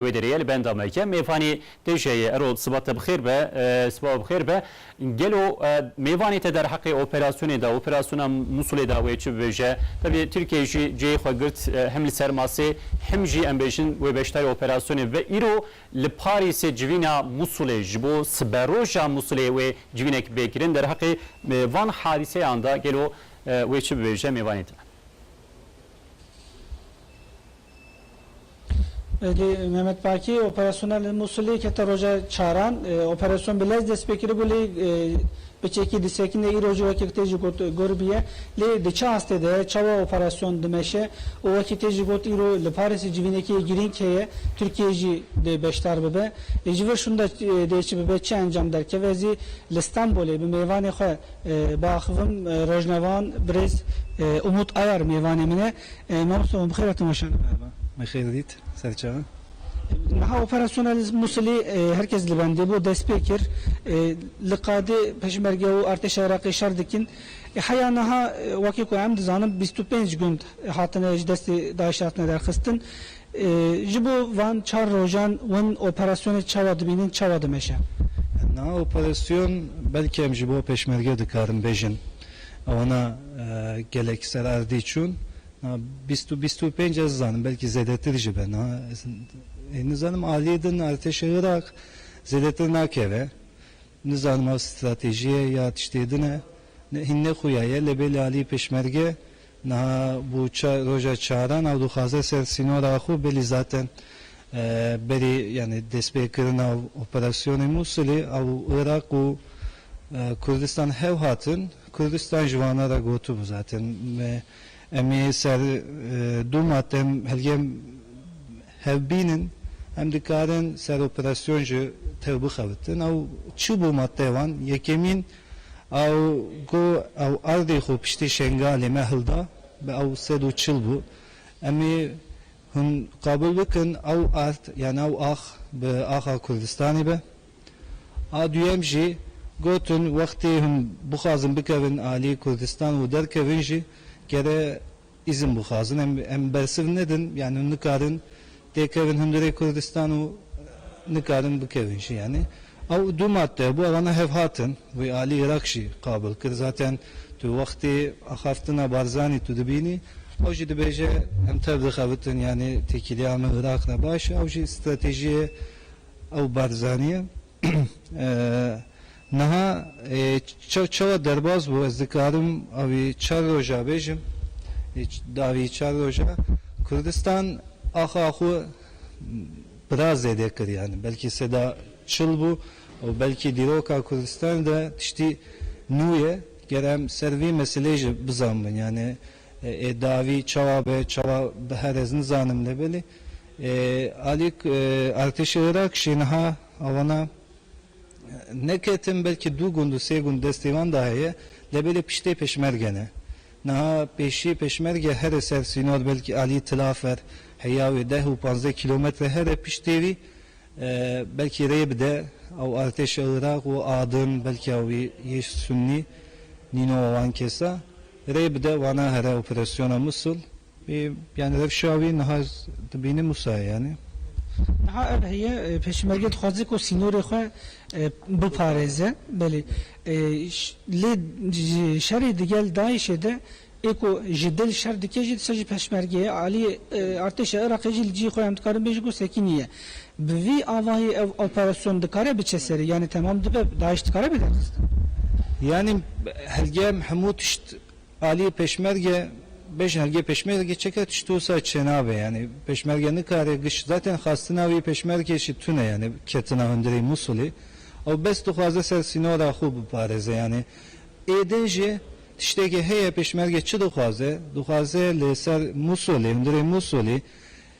Wê derê li benda me ke mêvanê tê jeyê. Ero siba te bixêr be. Siba we bixêr be. Gelo mêvanê te derheqê operasyonê de, operasyona Musulê de wê çi bibêje? Tevlî Tirkiyeyê jî cihê xwe girt him li ser masê him jî em bêjin wê beşdarê operasyonê bibe. Îro li Parîsê civîna Musulê ji bo siberoja Musulê wê civînek bê kirin. Derheqê van hadîseyan de gelo wê çi bibêje mêvanê te? Lê Mehmet Baki, operasyona li Mûsilê kete roja çaran. Operasyon bi lez dest pê kiribû lê bi çekî disekin de îro jî wekî tê jî got gor bûye. Lê di çi astê de ye, çawa operasyon dimeşe û wekî tê jî got îro li Parîsê civînekî yê girîng heye Tirkiyeyê jî dê beşdar bibe. Lê ji vir şûnda dê çi bibe, çi encam derkeve ez ê li Stenbolê bi mêvanê xwe biaxivim. Rojnavan birêz Umut Ayar mêvanê min e. Mamoste wan bixêr hatin weşane. Merhaba, bixêr dît serçe. Niha operasyona li Musilê her kes li bendê bû, dest pê kir. Li qadê Peşmerge û artêşa Iraqê şer dikin. Heya niha wekî ku em dizanin bîst û pênc gund hatine ji destê DAIŞ'ê hatine derxistin. Ji bo van çar rojan win operasyonê çawa dibînin, çawa dimeşe? Niha operasyon belke em ji bo Peşmerge dikarin bêjin. Wana gelek ser erdî çûn. Na bîst û bîst û pênc ez zanim belkî zêdetir jî be. Na ez ê nizanim aliyê din Artêşê Iraq zêdetir nakeve. Nizanim ew stratejî ye ya tiştê din e. Hîn nexuya ye lê bêlê aliyê pêşmerge niha bû roja çaran ew dixwaze ser sînora xwe bêlî zaten Berî yanî destpêkirina operasyonê Mûsilê ew Iraq û Kurdistan hev hatin. Kurdistan ji wana re gotibû zaten em ê ser du mate hilgem hev bînin, em dikarin ser operasyon ji tev bixebitin. Ew çi bû mateya wan? Yekemîn ew got ew erdê xwe piştî Şengalê me hilda, bi ew sed û çil bû. Em ê Hûn qabil bikin ew erd yan ew ax bi axa Kurdistanê be? A duyem jî gotin wextê hûn bixwazin bikevin aliyê Kurdistan û derkevin jî kere îzin bixwazin. Em em bersiv nedin yanî hûn nikarin têkevin hundirê Kurdistan û nikarin bikevin jî yanî. Ew du madde hebû ew hene hevhatin. Wî alî Îraq jî qabil kir. Zaten tu wextê axaftina Barzanî tu dibînî ew jî dibêje em tev dixebitin yanî têkiliya me Îraq re baş e. Ew jî stratejiyê ew Barzanî ye. Niha çawa derbas bû ez dikarim avî çar roja bêjim. Di avî çar roja Kurdistan axa xwe Biraz zêde kir yani belkî seda çil bû û belkî dîroka Kurdistanê de tiştî nû ye. Ger em ser vî meseleyê jî bizan bin yani ê dawî çawa be çawa bihere ez nizanim lê belê ê alî artêşê Iraq jî niha awana neketin belkî dû gund û sê gund destê wan de heye lê belê piştê pêşmerge ne. Niha pêşî Pêşmerge here ser sînor belkî alî Tilafer heya wê deh û panzdeh kîlometre here piştê wî belkî rê bide ew artêşa Iraq û adin belkî ew yê Sunnî nîno wan kesa rê bide wana here operasyona Musul. Ê yanî ev şawî niha ez dibînim wisa ye yanî. Niha ev heye pêşmerge dixwaze ku sînorê xwe biparêze belê lê şerê digel DAIŞ'ê de ê ku ji dil şer dike jî disa jî pêşmergeyê aliyê artêşa Iraqê jî li cihê xwe em dikarin bêjin ku sekî nîye. Bi vî avayî ev operasyon dikare biçe serê yanî temam dibe DAIŞ dikare bê derxistin? Yanî helgeyem hemû tişt Aliyê Pêşmerge, Bêşergê Pêşmerge çeke tişt wisa çênabe yanî Pêşmerge nikare giş zaten xastina wî Pêşmergê jî tune yanî ketina hundirê Mûsulê ew bes dixwaze ser sînora xwe biparêze yanî ê din jî tiştêkê heye Pêşmerge çi dixwaze dixwaze li ser Mûsulê hundirê Mûsulî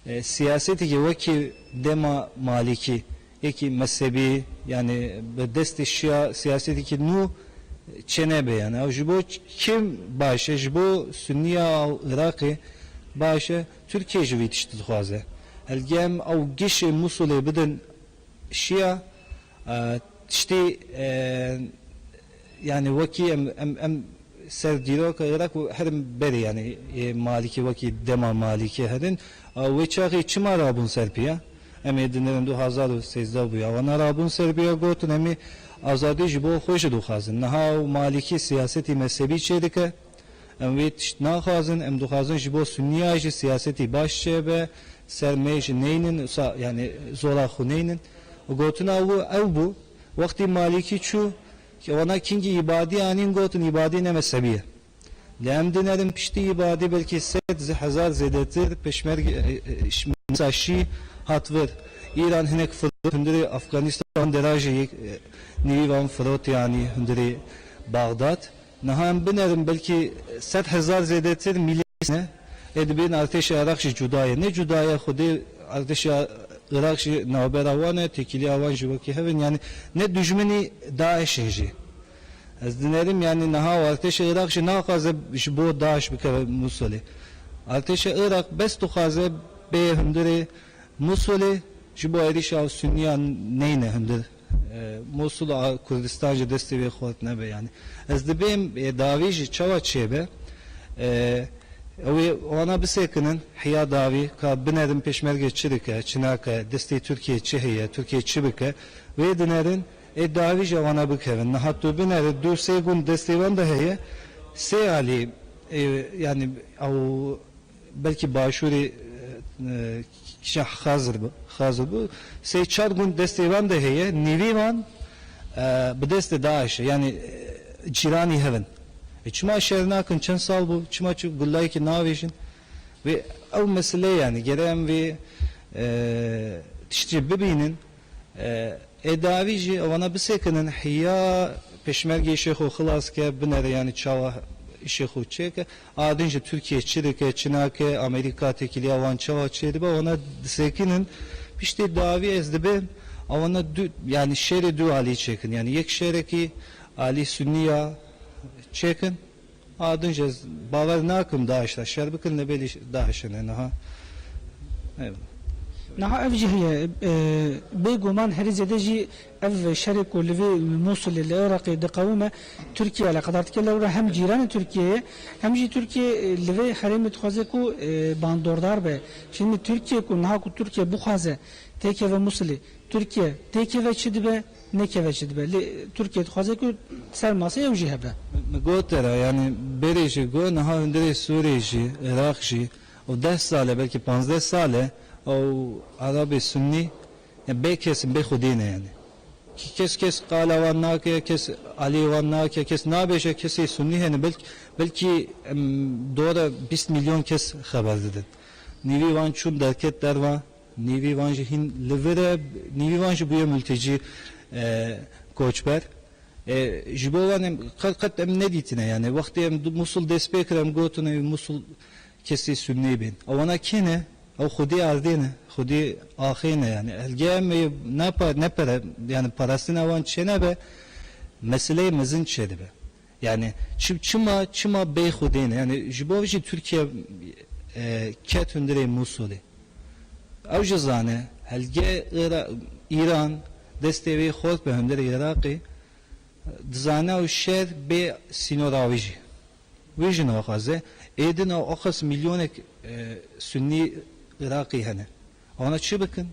siyasêtekê wekî dema Malîkî Yekî mezhebî yanî bi destê şiya siyasetêkî nû çênebe yanî ew ji bo kî baş e, ji bo sunîya Iraqê baş e, Tirkîye jî vî tiştî dixwaze. Hevdî em ew gişê Mûsulê bidin şiya tiştî Yanî wekî em em em ser dîroka Iraq û herm berê yanî yê Malîkê wekî dema Malîkê herin a wê çaxê çima rabûn ser pîya? Em ê dinêrin du hezar û sêzdeh bûya wana rabûn ser pîya gotin em ê azadî ji bo xwe jî dixwazin. Niha ew Malîkî siyasetî mezhebî çêdike em wê tişt naxwazin em dixwazin ji bo Sunnîya jî siyasetî baş çêbe ser mêj neynin wisa yanî zora xwineynin û gotina wi ew bû. Wextî Malîkî çû ke wana kingî îbadî anîn gotin îbadî ne mezhebî ye. Lê em din erin piştî îbadî belkî sed hezar zêdetir peşmerge misa şî hat vir. Îran hinek firot hundirê Afganîstan de ra jî yek nîvî van firotê anî hundirê Baxdad. Niha em binerin belkî sed hezar zêdetir mîlîs ne. Ê dibin artêşê Iraq jî cuda ye. Nê cuda ye xwedê artêşê Iraq jî navbera wan e, têkiliya wan jî wekî hev in. Yanî ne dijminî DAIŞ in jî. Ez dinerim yanî niha û artêşê Iraq jî naxwaze ji bo DAIŞ bikeve Mûsilê. Artêşê Iraq bes dixwaze bêye hundirê Mûsilê ji bo êrîşa Sunnîyan neyne hundir. Mosul a Kurdistan ji destê wê xwet nebe yanî ez dibêm ê dawî jî çawa çêbe ew ê wana bisekinin heya dawî ka binerin pêşmerge çi dike çi nake destê Tirkiyeyê çi heye Tirkiye çi bike wê dinerin ê dawî jî wana bikevin niha tu binere du sê gund destê wan de heye sê alî yanî ew Belkî başûrê kişa Xazir bi Xazir bi sey çar gund destê wan de heye nîvê wan bi destê DAIŞ e yanî cîranî hev in e çima şer nakin çend sal bû çima çi gulayekî navêjin vê ew meseleyê yanî gere em vê tiştî bibînin ê dawî jî wana bisekinin hîya peşmergê îşê xo xilas ke binere yanî çawa îşê xo çêke A din jî Tirkiye çi dike, çi nake, Amerîka têkiliya wan çawa çêdibe, wana disekinin. Piştî dawî ez dibêm a wana du yanî şerê du alî çêkin. Yanî yek şerekî alî Sunnî ya çêkin. A din jî ez bawer nakim DAIŞ da şer bikin lebelî DAIŞ hene niha. Eyvallah. Niha ev jî heye. Bêguman herî zêde jî Ev şerê ku li vê Mûsilê li Iraqê diqewime, Tirkiye eleqedar dike lewra hem cîranê Tirkiye ye hem jî Tirkiye li vê herêmê dixwaze ku bandordar be. Şînî Tirkiye ku niha ku Tirkiye bixwaze têkeve Mûsilê, Tirkiye têkeve çi dibe, nekeve çi dibe. Lê Tirkiye dixwaze ku ser masê ew jî hebe. Min got era yanî berê jî got niha hundirê Sûriyê jî, Iraq jî û deh sal e belkî panzdeh sal e ew Erabê Sunnî, Bê kes bê xwedî ne yanî. Kes kes qala wan nake, kes aliyê wan nake, kes nabêje kesê sunî hene belk belkî em dora bîst mîlyon kes xeber didin. Nîvî wan çûn derket derve, nîvî wan jî hîn li vir e, nîvî wan jî bûye multecî, koçber. E ji bo wan em qet qet em nedîtine yanî. Wextê em Mûsul destpêkir em gotin ewî Mûsul Kesî sûd nêbên. Ew wana kê ne? Ew xwedî erdê ne, xwedî axê ne yanî. Elgê em ê ne pere yanî parastina wan çênebe, meseleyê mezin çêdibe. Yanî çima çima bê xwedî ne? Yanî ji bo jî Tirkiye ket hundirê Mûsulê. Ew jî zane elgê Îran destê wê xort be hundirê Iraqê. Dizane ew şer bê sînora wê jî. Wê jî naxwaze. Êdin a axist milyonek sunnî iraqî hene. Wana çi bikin?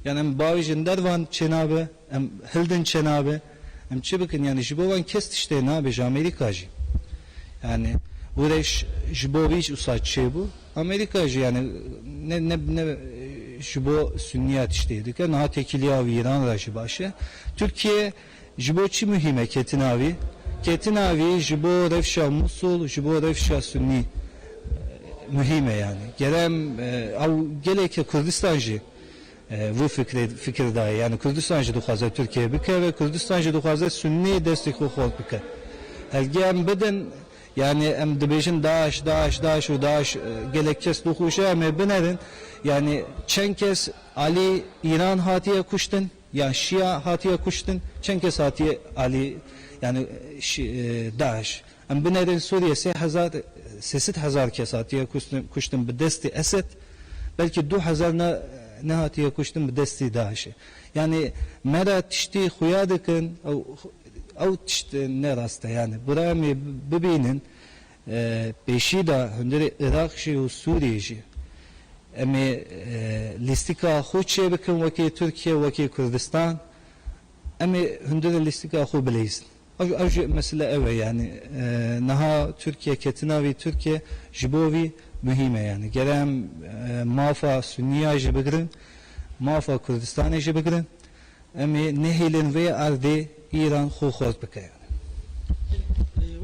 Yan em bavêjin der van çênabe, em hildin çênabe. Em çi bikin? Yanî ji bo wan kes tiştê nabêje Amerîka jî. Yanî Gureş ji bo wî usa çêbû. Amerîka jî yanî ne ne ne ji bo sunnîya tiştê dike. Niha têkiliya wî îran re jî baş e. Tirkiye Ji bo çi muhîm e ketina wî? Ketina wî ji bo rewşa Mûsul, ji bo rewşa Sunnî muhîm e yanî. Ger em ew gelêke Kurdistan jî vû fikrê fikir daye. Yanî Kurdistan jî dixwaze Tirkiyeyê bikeve, Kurdistan jî dixwaze Sunnî destê xwe xort bike. Hevgê em bidin, yanî em dibêjin DAIŞ, DAIŞ, DAIŞ û DAIŞ gelek kes dixwişe em ê binerin. Yanî çend kes alî Îran hatiye kuştin? Ya şiya hatiye kuştin çend kes hatiye alî yanî DAIŞ em binerin Sûriyê sê hezar sê sed hezar kes hatiye kuştin bi destê Esed belkî du hezar ne ne hatiye kuştin bi destê DAIŞê yanî me re tiştî xuya dikin ew ew tişt ne rast e yanî birayê me bibînin Pêşî de hundirê Iraq jî û Sûriyê jî. Em ê lîstika xwe çêbikin wekî Tirkiye, wekî Kurdistan. Em ê hundirê lîstika xwe bileyzin. Ew ew jî mesele ew e yanî niha Tirkiye ketina vî Tirkiye ji bo vî muhîm e yanî. Gere em mafa Suniya jî bigirin, mafa Kurdistanê jî bigirin. Em ê nehêlin vê erdê Îran xwe xurt bike.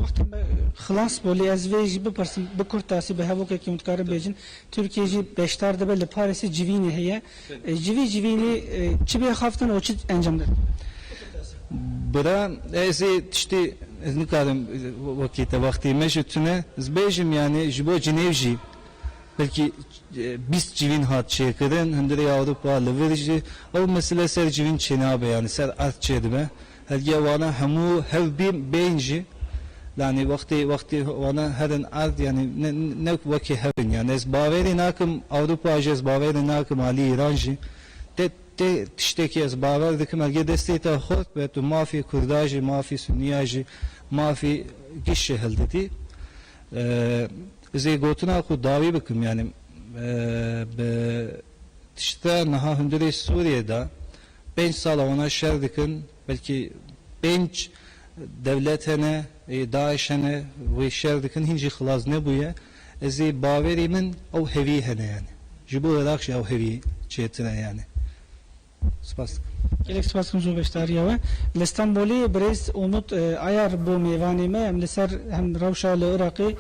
Wexta me xilas bû lê ez vê jî bipirsim bi kurtasî bi hevokekî hûn dikarin bêjin. Tirkiye jî beşdar dibe li Parîsê civînê heye. Ji vî civînê çi bê xaftin û çi encam didin? Bira ez ê tiştê ez nikarim wekî te wextê me ji tune ez bêjim yanî ji bo cinêw jî. Belkî bîst civîn hat çêkirin, hundirê ya Ewropa li vir jî ew mesele ser civîn çênabe yanî ser erd çêdibe. Hediya wana hemû hev bîn bên jî yanî wextê wextê wana herin erd yanî ne ne ku wekî hev in yanî ez bawerê nakim Ewropa jî ez bawerê nakim alî Îran jî tê tê tiştekî ez bawer dikim hediya destê te xort be tu mafê kurda jî mafê sunîya jî mafê giş jî hildidî. Ez ê gotina xwe dawî bikim yanî bi tişta niha hundirê Sûriyê de pênc sal e wana şer dikin belkî pênc dewlet hene ê DAIŞ hene wê şer dikin hîn jî xilas nebûye ez ê bawerî min ew hevî hene yanî ji bo Iraq jî ew hevî çêtir e yanî. Spas dikim. Gelek spas dikim ji bo beşdariya we. Li Stenbolê birêz Umut Ayar bû mêvanê me. Em li ser hem rewşa li Iraqê,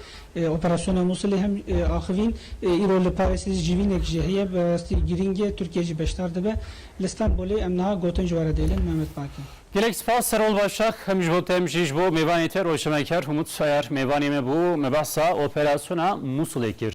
operasyona Mûsilê hem axivîn. Îro li Parêsê jî civînek jê heye. Bi rastî girîng e. Tirkiye jî beşdar dibe. Li Stenbolê em niha gotin ji we re dêlin. Mehmet Baki. Gelek spas Serol Başak. Hem ji bo te hem jî ji bo mêvanê te rojnameker Umut Ayar mêvanê me bû. Me behsa operasyona Mûsilê kir.